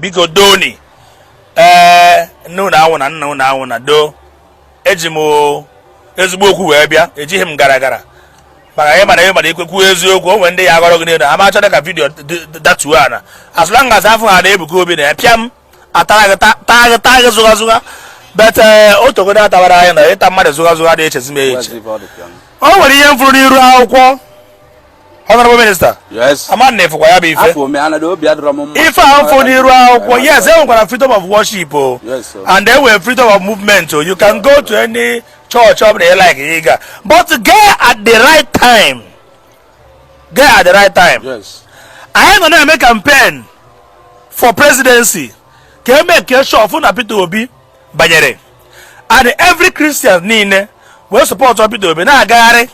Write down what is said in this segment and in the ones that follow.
biko doni ee eh, nne unu anwụna nna unu anwụna doo eji m ezigbo okwu wee bịa ejighị m gara gara maka ihe m mara ihe m mara ikwekwu eziokwu o nwere ndị ya agọrọ gị n'elu ama achọrọ ka vidiyo datuo ana as long as afụ ha na Ebuka Obi na ya pịam atara gị ta- taa gị taa gị zụga zụga but eh, o togodo atabara anyị na ịta mmadụ zụga zụga dị echezi m eche o nwere ihe m fụrụ n'iru akwụkwọ honorable minister Yes. ama m na ịfụkwa ya bụ ife Afọ ome anadị obi adịrọ m mma. ife ahụ m fụ n'iru akwụkwọ yes e nwekwara freedom of worship o Yes, sir. and e nwere freedom of movement o you can go to any church ọ bụla ịlike ịga but gaa at the right time gaa at the right time anyị nọ na-eme campaign for presidency ka e make sure fụ na Peter Obi banyere and every Christian niile wee support Peter Obi na-agagharị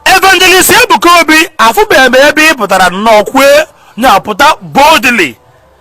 evangelist Ebuka Obi afụbeghị m ebe ị pụtara nnọọ kwue na-apụta boldly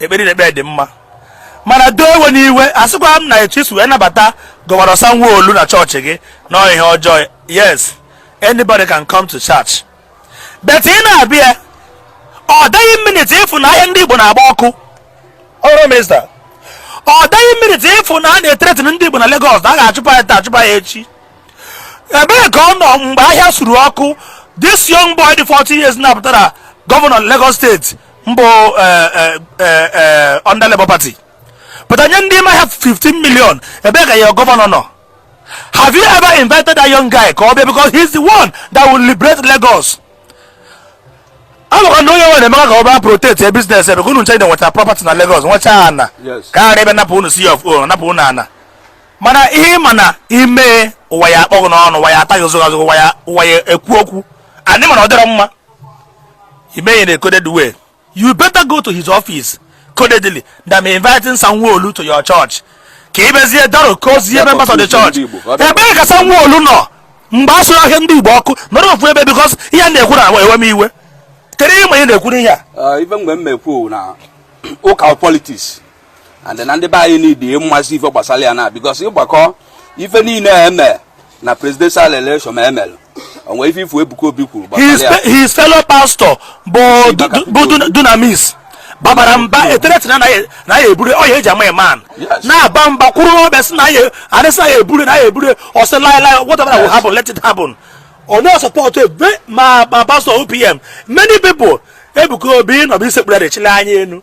ekpere na ekpere dị mma mana doo ewena iwe asịkwa m na etu isi wee nabata Governor Sanwo-Olu na church gị na ọ ihe ọjọọ yes anybody can come to church but ị na-abịa ọ dịghị minit ịfụ na ahịa ndị Igbo na-agba ọkụ honorable minister ọ dịghị minit ịfụ na a na-ethreaten ndị Igbo na Lagos na a ga-achụpa ya taa achụpa ya echi ebee ka ọ nọ mgbe ahịa suru ọkụ this young boy dị 40 years na-apụtara governor Lagos State mbụ eh, eh, eh, under Labour Party but onye ndị ma ha 15 million ebee ka ya governor nọ have you ever invited that young guy ka ọ bịa because he's the one that will liberate Lagos amaka na onye nwere emeka ka ọ bịa protect your business because unu ncha nweta property na Lagos nwecha ana ka a ghara ịbịa napụ unu C of O napụ unu ana mana ihe m ma na ime ụwa ya akpọghị n'ọnụ ụwa ya ataghị ụzọ ụwa ya ekwu okwu anyị ma na ọ dịrọ mma I mee ya in a coded way. You better go to his office codedly than inviting Sanwo-Olu to your church. Ka ibezie daro kozie members of the church. Ebee ka Sanwo-Olu nọ mgbe a sụrụ ahịa ndị Igbo ọkụ nọrọ ofu ebe because ihe m na-ekwu na-ewe m iwe. Kedu ihe ma ị na-ekwu n'ihe a? Even mgbe m mekwu na local politics and na ndị be anyị need ịmasị ife gbasara ya na because ịgbakọ ife niile eme na presidential election ma emelụ o nwe ife ị fụ Ebuka Obi kwuru gbasara ya his fellow pastor bụ Dunamis babara mba e threaten na ya eburu ọya eji ama man na-aba mba kwuru na ọ bịa sị na ya arịsị na ya eburu na ya eburu ọ sị laịlaị whatever will happen let it happen ọ na support ebe ma ma pastor OPM many people Ebuka Obi nọ ebe o sekpuru ya echila anya enu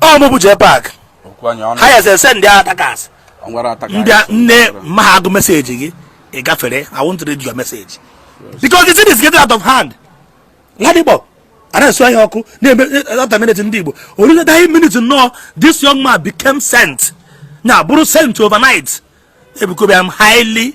ọ mụbụ jee park ha ya-esend ndị attackers mbịa nne ma agụ message gị ị gafere I want to read your message because the thing is getting out of hand Ladipo a na-esu ahịa ọkụ na-eme ọta eh, minute ndị Igbo origadaghị minute nnọọ this young man became saint na bụrụ saint overnight Ebuka Obi I am highly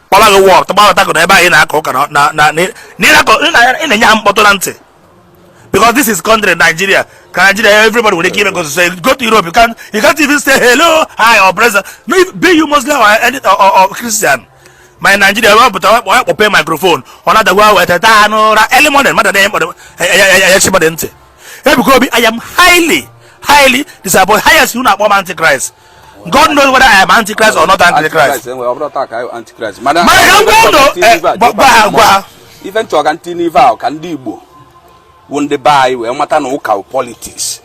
kpọba gị wọk tụgbahọtago na ebe anyị na-akọ ụka na ị na-enye ha mkpọtụ na ntị because this is country Nigeria ka Nigeria everybody nwere ike ime ka o si sọ go to Europe you can't, you can't even say hello hi or present be you Muslim or, any, or, or, or Christian mana Nigeria ọ pụta ọ kpọpe microphone ọ na-adagwa wetata n'ụra early morning mmadụ na-enye mkpọrọ ya chi mmadụ ntị Ebuka Obi I am highly highly disappointed highest unu akpọ m antichrist God knows whether I am antichrist or not antichrist. Antichrist, ọ bụrọ taa ka anyị antichrist. Mana Mana ka m gwa unu eh, gwa gwa ha gwa. ife m chọ ka m tinye ife ahụ ka ndị Igbo bụ ndị be anyị wee mata na ụka wụ politics.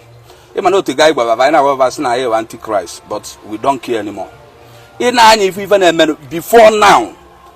Ị ma na o tego anyị gwaba fa anyị na-agwa fa fa sị na anyị wụ antichrist but we don't care anymore. I nee anya ị fụ ife na-eme before now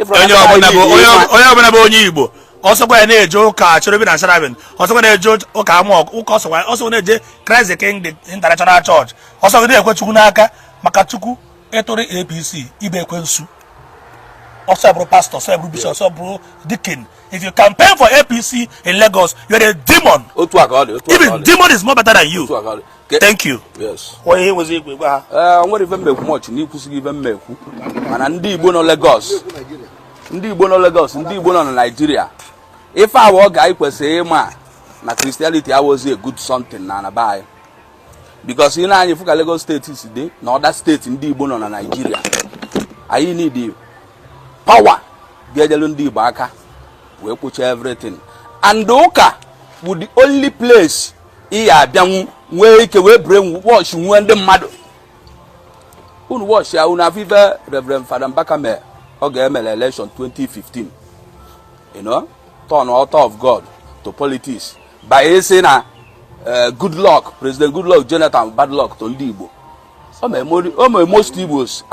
onye ọbụla bụ onye ọbụla bụ onye igbo ọ sọkwa ya na-eje ụka cherubim na seraphim ọ sọkwa na-eje ụka amụọkụ ụka ọ sọkwa na-eje christ the king international church ọ sọkwa na-ekwe chukwu n'aka maka chukwu ị tụọrọ apc ị bụ ekwensu ọ sọ bụrụ pastor ọ sọ bụrụ bishop ọ sọ bụrụ deacon if you campaign for apc in lagos you are a demon even demon is more better than you thank you onye ihe nwezi igwe gwa ha enwerọ ife m ma-ekwu much na ekwusigo m ife m ma-ekwu mana ndị igbo nọ Lagos ndị igbo nọ Lagos ndị igbo nọ na Naịjirịa ife a wụ oge anyị kwesịrị ịma na Christianity awụzị a good something na ana be anyị because i nee anya ị fụ ka Lagos State si dị na other state ndị igbo nọ na Naịjirịa anyị need power ga-eji elu ndị igbo aka wee kpochie everything and ụka bụ the only place ị ya-abịanwu nwee ike wee brainwash nwee ndị mmadụ unu watch ya unu afụ ife Reverend Father Mbaka mee oge e mele election 2015 you know turn altar of God to politics by saying na eh, good luck President good luck Jonathan bad luck to ndị Igbo o mere most Igbos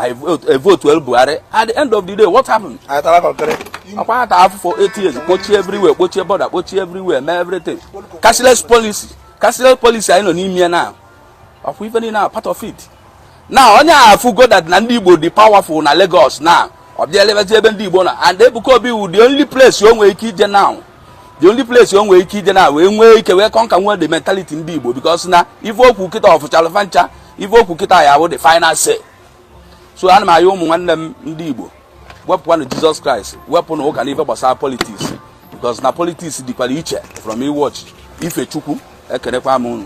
evotuolu Buhari at the end of the day what happened? akwa ata afụfụ 8 years kpochie everywhere kpochie border kpochie everywhere mee everything cashless policy cashless policy anyị nọ n'ime ya now ọkwa ife niile a part of it na onye a afụgo that na ndị Igbo dị powerful na Lagos now ọ bịa elebezi ebe ndị Igbo nọ and Ebuka Obi wu the only place o nwere ike ije now the only place o nwere ike ije now wee nwee ike wee conquer nwee the mentality ndị Igbo because na ife o kwu kịta ọ fụchalụ fa ncha ife o kwu kịta ya wụ the final say so ana m ayọ ụmụ nwanne m ndị Igbo wepụkwanụ Jesus Christ wepụ na ụka n'ife gbasara politics because na politics dịkwara iche from ị worship ife Chukwu ekenekwa m unu